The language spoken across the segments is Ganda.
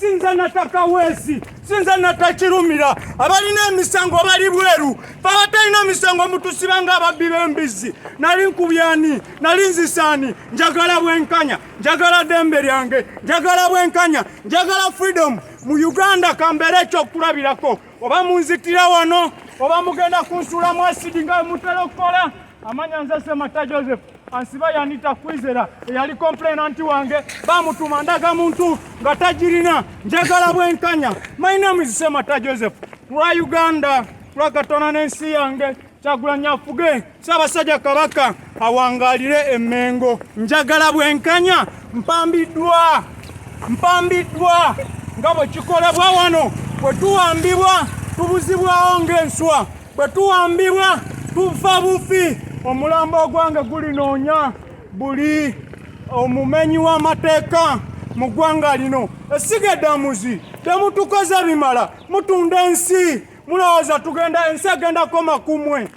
sinza nataka wezi sinza natakirumira abalina emisango bali bweru babatalina misango mutusiba nga ababbi b'embizzi nali nkubyani nali nzisaani njagala bwenkanya njagala dembe lyange njagala bwenkanya njagala freedom mu Uganda kambeera ekyokulabirako oba munzitira wano oba mugenda kunsuulamu asidi nga mutera okukola amanya nze semata joseph ansiba yanita kwizera eyali komplenanti wange bamutuma ndaga muntu nga tagirina njagala bwenkanya my name is semata joseph lwa uganda lwa katonda n'ensi yange Kyagulanyi afuge Ssaabasajja Kabaka awangaalire Emmengo. Njagala bwenkanya mpambiddwa mpambiddwa nga bwe kikolebwa wano bwe tuwambibwa tubuzibwawo ng'enswa bwe tuwambibwa tufa bufi omulambo ogwange gulinoonya buli omumenyi w'amateeka mu ggwanga lino esiga eddamuzi temutukoze bimala mutunda ensi mulowooza tugenda ensi egenda koma kumwe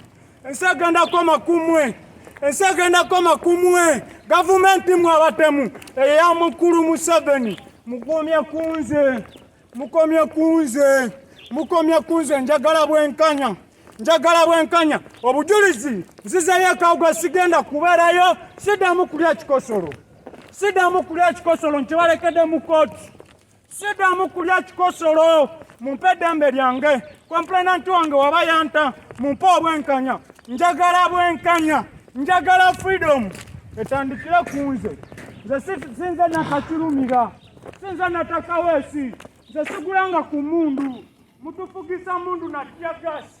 ensi egenda koma kumwe ensi egenda koma kumwe gavumenti mwe abatemu eya mukulu museveni mukomye kunze mukomye kunze mukomye kunze njagala bwenkanya njagala bwenkanya obujulizi nzizeyo ekawugwe sigenda kubeerayo sidamu kulya kikosolo sidamu kulya kikosolo nkibalekede mu kooti sidamu kulya kikosolo mumpe eddembe lyange komplenanti wange waba yanta mumpe obwenkanya njagala bwenkanya njagala freedom etandikire ku nze nze sinze nakakirumira sinze natakaweesi nze sigulanga ku mundu mutufugisa mundu natya gasi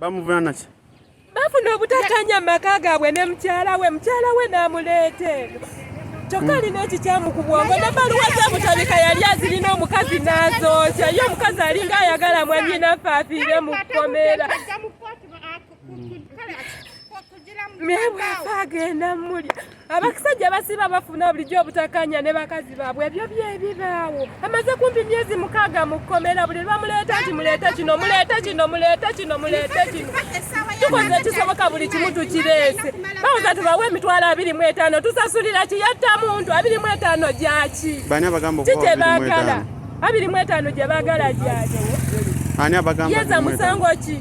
Bamuvunana ki? Bafuna obutakanya maka gaabwe ne mukyala we, mukyala we n'amuleeta eno kyokka alina ekikyamu ku bwongo ne baluwa zamutabika yali azirina omukazi n'azookya ye omukazi alinga ayagala mwanyinaffe afiire mu kkomera naye bwafa agenda muli abakisajja basiba bafuna bulijjo obutakanya ne bakazi baabwe ebyo byebibaawo amaze kumpi myezi mukaaga mu kkomera buli lwamuleeta nti muleete kino muleete kino muleete kino muleete kino tukoze ekisoboka buli kimu tukireese bawuza tubawe emitwalo abiri mu etaano tusasulira kiyatta muntu abiri mu etaano gyaki ki kye baagala abiri mu etaano gye baagala gyaki yeza musango ki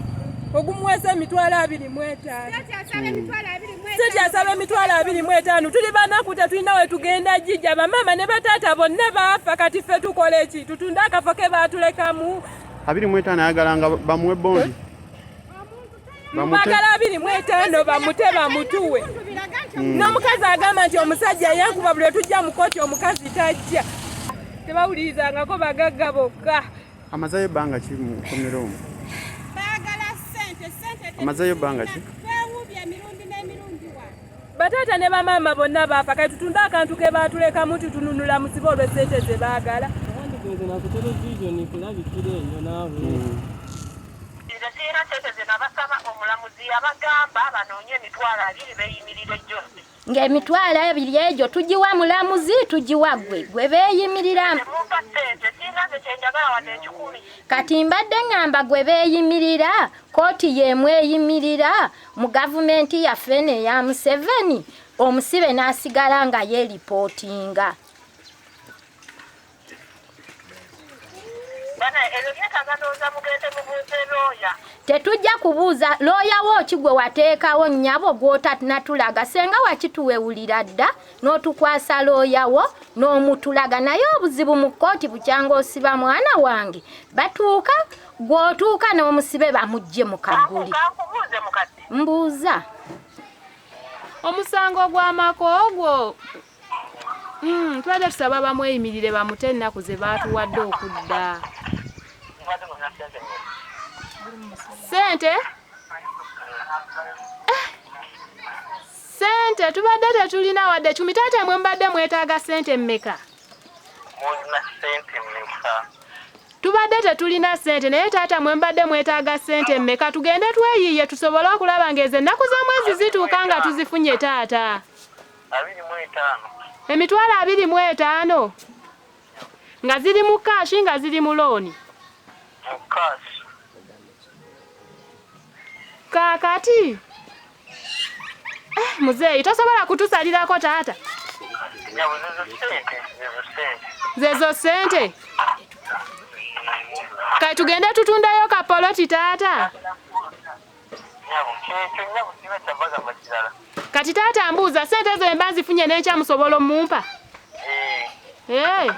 ogumuweesa emitwalo abiri mu etaano sente asaba emitwalo abiri mu etaano tuli banaku tetulina we tugenda jija bamaama ne bataata bonna baafa kati ffe tukola eki tutunde akafo ke baatulekamu abiri mu etaano ayagala nga bamuwe bondi bagala abiri mu etaano bamute bamutuwe hmm. n'omukazi agamba nti omusajja yankuba buli otujja mu koti omukazi tajja tebawulirizangako bagagga bokka amazayo banga ki mu komera omu bagala sente sente amazayo banga ki wewubye emirundi n'emirundi wa bataata ne bamaama bonna baafa kati tutunde akantu ke baatulekamu tutununula musibe olwe sente ze baagala nze na ku televisioni kulabikira eyo naawe hmm. nze sirina sente ze nabasaba omulamuzi yabagamba banoonye emitwalo abiri beyimirire joseph ng'emitwalo ebiri egyo tugiwa mulamuzi tugiwa gwe gwe beeyimirira kati mbadde ŋŋamba gwe beeyimirira kooti y'emu eyimirira mu gavumenti yaffe eno eya museveni omusibe n'asigala nga yeeripootinga tetujja kubuuza looya wo ki gwe wateekawo nnyabo gwotanatulaga senga wakituwewulira dda n'otukwasa looya wo n'omutulaga naye obuzibu mu kkooti bukyanga osiba mwana wange batuuka gwotuuka n'omusibe bamugje mu kaguli mbuuza omusango gw'amaka ogwo Hmm, tubadde tusaba bamweyimirire bamute ennaku ze baatuwadde okudda sente sente tubadde tetulina wadde kumi taata mwe mubadde mwetaaga sente mmeka tubadde tetulina sente naye taata mwe mubadde mwetaaga sente mmeka tugende tweyiiye tusobole okulaba ngaezo ennaku z'omwezi zituuka nga tuzifunye taata abiri mu etaano emitwalo abiri mu etaano nga ziri mu kaashi nga ziri mu looni mu kaashi kaakati eh, muzeeyi tosobola kutusalirako taata zezo sente kati tugende tutundayo kapoloti taata kati taata mbuuza sente ezo emba nzifunye nenkyamusobola omumpa eh. eh.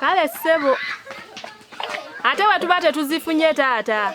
kale ssebo ate wetuba tetuzifunye taata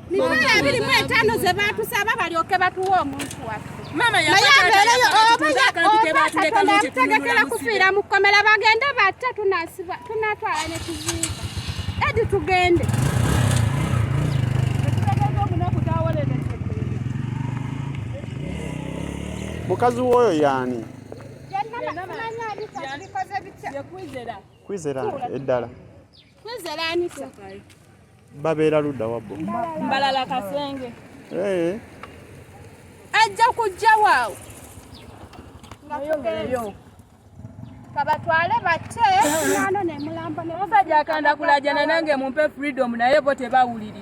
Mikono abiri mu etaano ze baatusaba balyoke batuwe omuntu waffe katonda yakutegekera kufiira mu kkomera bagende batta tunatwala ne tuziika edi tugende mukazi woyo yani kwizera eddala babeera ludda wabbo mbalala kasenge eh. ajja kujja waawo kabatwale bate nano nemulambo nemusajja akanda kulajana nange mumpe freedom naye bo tebawuliri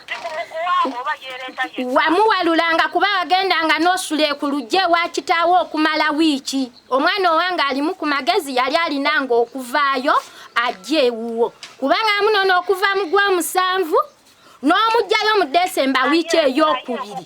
wamuwalulanga kuba wagendanga n'osula ekulujje wa kitaawo okumala wiiki omwana owange alimu ku magezi yali alinanga okuvaayo ajja ewuwo kubanga amunono okuva mu gwomusanvu n'omugjayo mu desemba wiiki ey'okubiri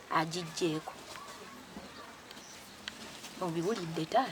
agiggyeeko obiwulidde taata